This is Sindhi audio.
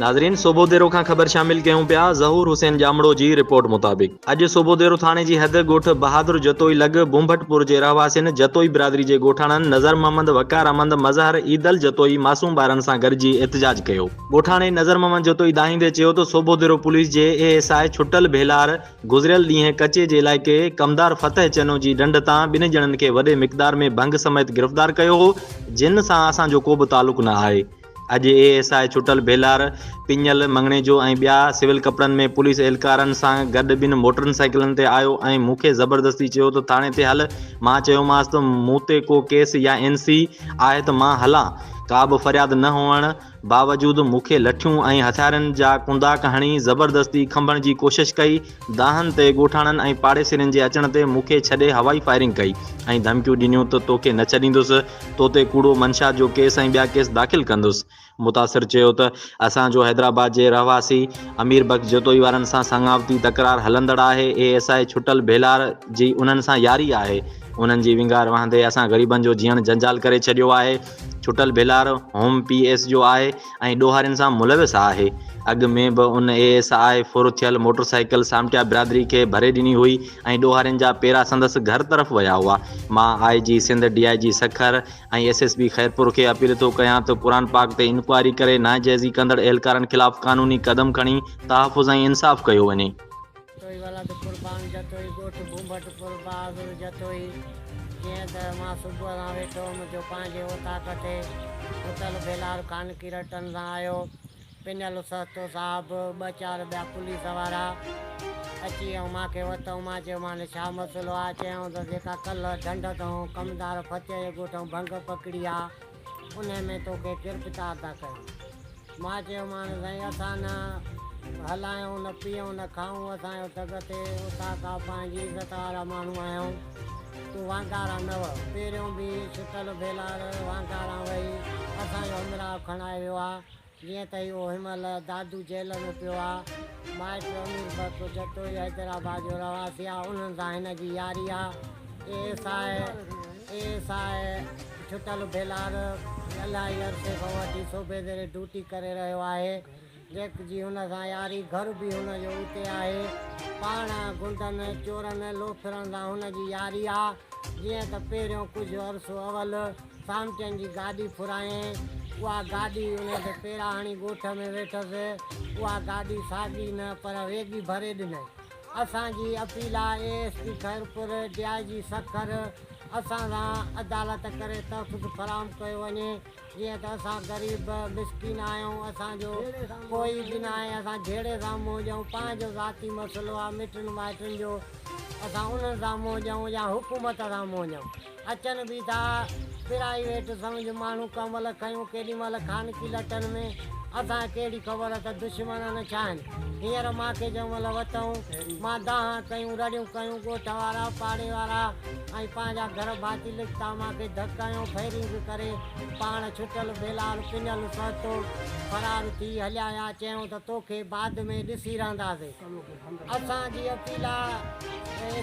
ناظرين صوبو ديرو کان خبر شامل ڪيون پيا ظهور حسين ڄامڙو جي رپورٽ مطابق اڄ صوبو ديرو ٿاڻي جي حد ڳوٺ بهادر جتوئي لڳ بونڀٽ پور جي رهواسين جتوئي برادري جي ڳوٺاڻن نظر محمد وقار احمد مظهر عيدل جتوئي معصوم ٻارن سان گڏجي احتجاج ڪيو. ڳوٺاڻي نظر محمد جتوئي دانهيندي چيو ته صوبو ديرو پوليس جي A S I Chhattal Bhelar گذريل ڏينهن ڪچي جي علائقي ڪمدار فتح چنو جي ڍنڍ تان ٻنهن ڄڻن کي وڏي مقدار ۾ ڀنگ سميت گرفتار ڪيو هو جن سان اسان جو ڪو به تعلق نه آهي اڄ اي ايس آء ڇٽل ڀيلار، پڃل، مڱڻيجو ۽ ٻيا سول ڪپڙن ۾ پوليس اهلڪارن سان گڏ ٻن موٽرن سائيڪلن تي آيو ۽ مون کي زبردستي چيو ته ٿاڻي تي هل، مان چيومانس ته مون تي ڪو ڪيس يا اين سي آهي ته مان هلان؟ ڪابه فرياد نه هئڻ باوجود مون کي لٺيون ۽ هٿيارن جا ڪنداڪ هڻي زبردستي کنڀڻ جي ڪوشش ڪئي، دانهن تي ڳوٺاڻن ۽ پاڙيسرين جي اچڻ تي مون کي ڇڏي هوائي فائرنگ ڪئي ۽ ڌمڪيون ڏنيون ته توکي نه ڇڏيندس، تو تي ڪوڙو منشا جو ڪيس ۽ ٻيا ڪيس داخل ڪندس. متاثر چيو ته اسان جو حيدرآباد جي رهواسي امير بخش جتوئي وارن سان سڱاوتي تڪرار هلندڙ آهي، اي ايس آء ڇٽل ڀيلار جي انهن سان ياري آهي، انهن جي ونگار وهندي اسان غريبن جو جيئڻ جنجال ڪري ڇڏيو آهي، Chhattal Bhelar home P S جو آهي، ۽ ڏوهارين سان ملوث آهي. اڳ ۾ به ان اي ايس آء ڦر ٿيل موٽر سائيڪل سامٽيا برادري کي ڀري ڏني هئي ۽ ڏوهارين جا پيرا سندس گهر طرف ويا هئا. مان I G Sindh, D I G Sukkur ۽ S S P Khairpur کي اپيل ٿو ڪيان ته قرآن پاڪ تي انڪوائري ڪري ناجائزي ڪندڙ اهلڪارن خلاف قانوني قدم کڻي تحفظ ۽ انصاف ڪيو وڃي. جتوئي ولد قربان جتوئي ڳوٺ ڀونڀٽ پور بهادر جتوئي جيئن ته مان صبح سان ويٺو هئم جو پنهنجي اوطاق تي ستل ڀيلار خانڪي رٽن سان آيو پنيل سهتو صاحب ٻه چار ٻيا پوليس وارا اچي ۽ مان کي وتئون مان چيومانس ڇا مسئلو آ چيائون ته جيڪا ڪلهه ڍنڍ تئون ڪمدار ڦتيء جي ڳوٺ ائون ڀنگ پڪڙي آ انهيء ۾ توکي ڪير پتا عطا ڪيو؟ مان چيومانس، سائين اسان نه هلايون، نه پيئون، نه کائون، اسان جو تڳ اٿئي، اتان ڪا پنهنجي عزت وارا ماڻهو آهيون، تون وانڪاران نه وهه، پهريون به شٽل ڀيلار وانڪاران وهي اسان جو امراء کڻائي ويو آ، جيئن ته اهو هن مهل دادو جيل ۾ پيو آ. مائٽ امير بخش جتوئي حيدرآباد جو رهواسي آ. انهن سان هن جي ياري آ. A S I A S I Thattal Bhelar الاهي عرصي کان وٺي صوبي زيري ڊوٽي ڪري رهيو آهي. جيڪ جي هن سان ياري، گهر به هن جو اتي آهي. پاڻ غنڊن، چورن، لوفرن سان هن جي ياري آ. جيئن ته پهريون ڪجهه عرصو اول. سامچن جي گاڏي ڦرايائين. اها گاڏي ان تي پيراهڻي ڳوٺ ۾ ويٺس. اها گاڏي ساڳي نه پر ويڳي ڀري ڏنائين. اسان جي اپيل آء A S P Khairpur, D I G Sukkur اسان سان عدالت ڪري تحفظ فراهم ڪيو وڃي جيئن ته اسان غريب مسڪين آهيون اسان جو ڪوئي به ناهي اسان جهيڙي سان منهن ڏيون پنهنجو ذاتي مسئلو آهي مٽن مائٽن جو اسان انهن سان منهن ڏيون يا حڪومت سان منهن ڏيون. اچن به ٿا. پرائيويٽ سمجهه ماڻهو ڪنول کنيو ڪيڏي مهل خانگي لٽن ۾. اسان کي ڪهڙي خبر ته دشمنن ڇا آهن. هينئر مان کي جنهن مهل وتئون، مان دانهن ڪيون، رڙيون ڪيون، ڳوٺ وارا، پاڙي وارا ۽ پنهنجا گهر ڀاتي لڪتا مان کي ڌڪ هنيو، فيرنگ ڪري پاڻ ڇٽل بيلال پڃل سهتو فرار ٿي هليا ويا. چيائون ته توکي بعد ۾ ڏسي رهنداسين. اسان جي اپيل آهي.